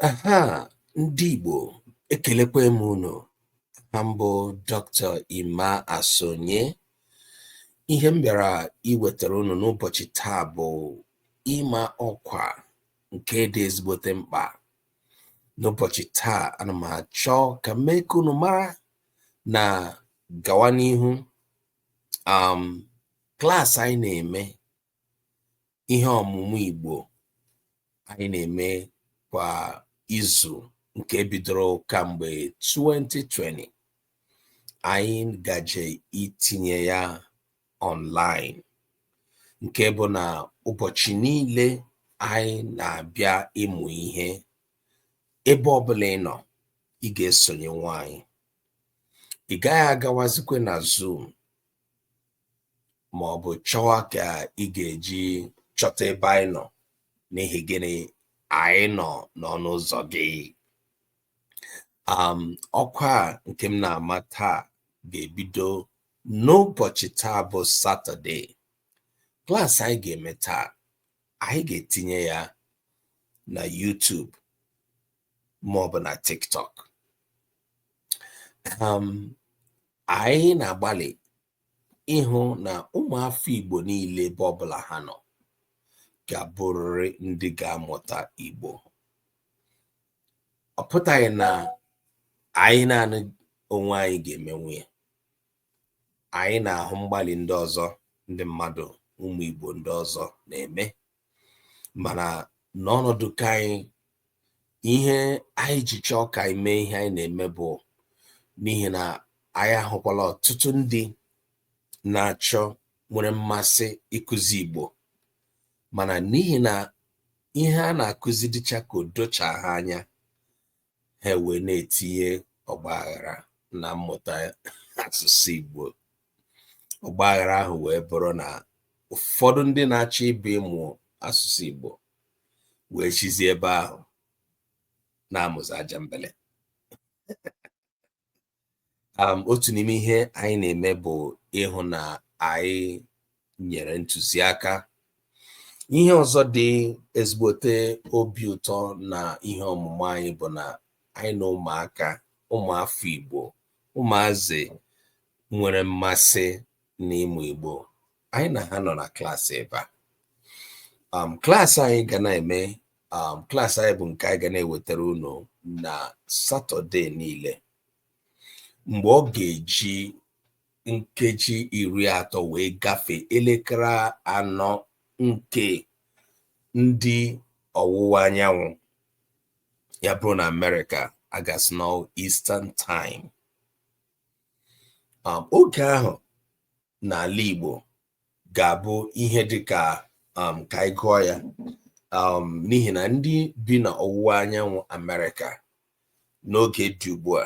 Aha ndị Igbo ekelekwa m unu aha m bụ Dr. Emma Asonye ihe m bịara iwetara unu n'ụbọchị taa bụ ịma ọkwa nke dị ezigbote mkpa n'ụbọchị taa ana m achọ ka m mee ka unu mara na gawa n'ihu um klaasị anyị na-eme ihe ọmụmụ Igbo anyị na-eme kwa izu nke bidoro kamgbe 2020 anyị gaje itinye ya online nke bụ na ụbọchị niile anyị na-abịa ịmụ ihe ebe ọbụla ị nọ ị ga-esonyenwu anyị ị gaghị agawazikwe na Zoom ma ọ bụ chọwa ka ị ga-eji chọta ebe anyị nọ n'ihi gịnị anyị nọ n'ọnụ ụzọ gị um, ọkwa nke m na-ama taa ga-ebido n'ụbọchị taa bụ satọde klaasị anyị ga-eme taa anyị ga-etinye ya na YouTube ma ọ bụ na TikTok um, Anyị na-agbalị ịhụ na ụmụafọ Igbo niile ebe ọbụla ha nọ ga-abụrịrị ndị ga-amụta Igbo. Ọ pụtaghị na anyị naanị onwe anyị ga-emenwu ya. Anyị na-ahụ mgbalị ndị ọzọ ndị mmadụ ụmụ Igbo ndị ọzọ na-eme mana n'ọnọdụ ka anyị ihe anyị ji chọọ ka anyị mee ihe anyị na-eme bụ n'ihi na anyị ahụkwala ọtụtụ ndị na-achọ nwere mmasị ịkụzi Igbo mana n'ihi na ihe a na-akụzi dịcha ka o docha ha anya ha wee na-etinye ọgba aghara na mmụta asụsụ Igbo ọgba aghara ahụ wee bụrụ na ụfọdụ ndị na-achọ ịbịa ịmụ asụsụ Igbo wee sizie ebe ahụ na-amụzi ajambele um, otu n'ime ihe anyị na-eme bụ ịhụ na anyị nyere ntụziaka ihe ọzọ dị ezigbote obi ụtọ na ihe ọmụmụ anyị bụ na anyị na ụmụaka ụmụafọ Igbo ụmụazị nwere mmasị n'ịmụ Igbo anyị na ha nọ na klaasị ebe a um, klaasị anyị ga na-eme um, klaasị anyị bụ nke anyị ga na-ewetara unu na Satọdee niile mgbe ọ ga-eji nkeji iri atọ wee gafee elekere anọ nke ndị ọwụwa anyanwụ ya bụrụ na Amerịka a ga-asị na Eastern Time um, oge ahụ n'ala Igbo ga-abụ ihe dị ka um, ka anyị gụọ ya um, n'ihi na ndị bi na ọwụwa anyanwụ Amerịka n'oge dị ugbu a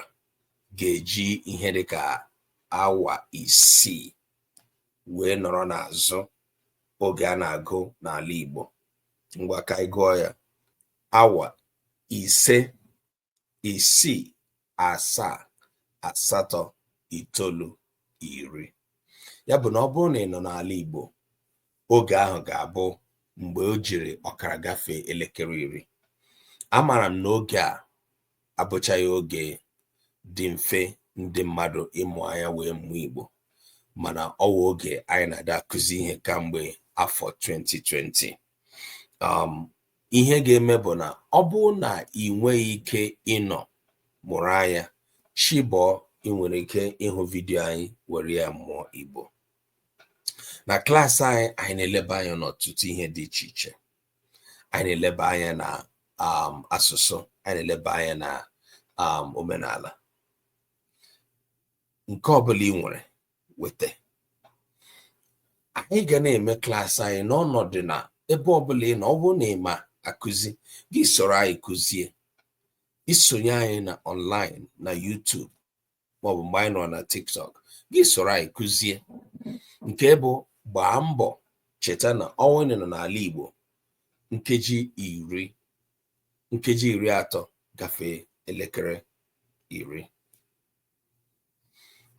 ga-eji ihe dị ka awa isii wee nọrọ n'azụ oge a na-agụ n'ala Igbo ngwa ka anyị gụọ ya awa ise isii asaa asatọ itoolu iri ya bụ na ọ bụrụ na ị nọ n'ala Igbo oge ahụ ga-abụ mgbe o jiri ọkara gafee elekere iri amaara m na oge a abụchaghị oge dị mfe ndị mmadụ ịmụ anya wee mụọ Igbo mana ọ wụ oge anyị na-adị akụzi ihe kamgbe afọ 2020 um, ihe ga-eme bụ na ọ bụrụ na i nweghị ike ịnọ mụrụ anya chi bọọ i nwere ike ịhụ vidiyo anyị were ya mụọ Igbo na klaasị anyị anyị na-eleba anya n'ọtụtụ ihe dị iche iche anyị na-eleba anya na um, asụsụ anyị na-eleba anya na um, omenala nke ọbụla i nwere weta anyị ga na-eme klaasị anyị n'ọnọdụ na ebe ọbụla ị nọ ọ bụrụ na ị ma akụzi gị soro anyị kụzie i sonye anyị na online na YouTube maọbụ mgbe anyị nọ na TikTok gị soro anyị kụzie nke bụ gbaa mbọ cheta na ọ wụ na ị nọ n'ala Igbo nkeji iri nkeji iri atọ gafee elekere iri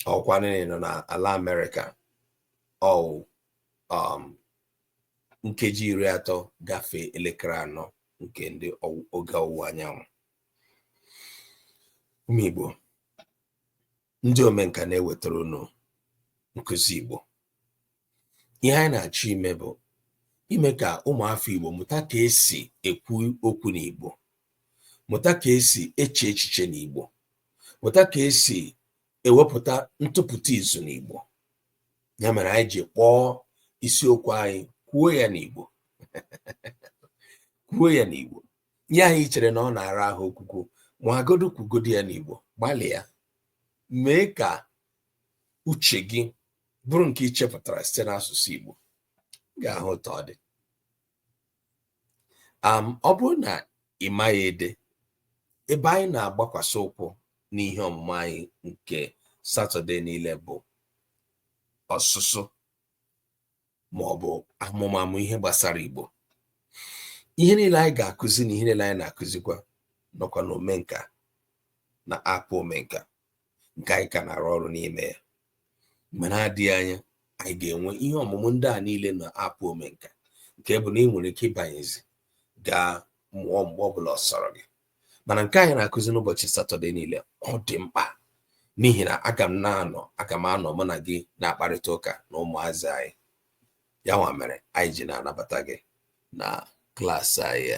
ọ wụkwanụ na ị nọ na ala Amerịka ọ wụ um, nkeji iri atọ gafee elekere anọ nke ndị oge ọwụwa anyanwụ ụmụ Igbo ndị omenka na-ewetara unu nkụzi Igbo ihe anyị na-achọ ime bụ ime ka ụmụafọ Igbo mụta ka esi ekwu okwu n'Igbo mụta ka esi eche echiche n'Igbo mụta ka esi ewepụta ntụpụta izu n'Igbo ya mere anyị ji kpọọ isiokwu anyị kwuo ya n'Igbo kwuo ya n'Igbo ihe anyị chere na ọ na-ara ahụ okwukwu nwagodu kwugodi ya n'Igbo gbalịa mee ka uche gị bụrụ nke i chepụtara site n'asụsụ Igbo ga-ahụ ụtọ ọ dị ọ bụrụ na ị maghị ede ebe anyị na-agbakwasị ụkwụ n'ihe ọmụmụ anyị nke Satọde niile bụ ọsụsụ ma ọ bụ amụmamụ ihe gbasara Igbo ihe niile anyị ga-akụzi na ihe niile anyị na-akụzikwa nọkwa na omenka na app omenka nke anyị ka na-arụ ọrụ n'ime ya mgbe na-adịghị anya anyị ga-enwe ihe ọmụmụ ndị a niile na app omenka nke bụ na i nwere ike ịbanyezi gaa mụọ mgbe ọbụla ọ sọrọ gị mana nke anyị na-akụzi n'ụbọchị satọde niile ọ dị mkpa n'ihi na aga m na-anọ aga m anọ mụ na gị na-akparịta ụka na ụmụazị anyị ya nwa mere anyị ji na-anabata gị na klaasị anyị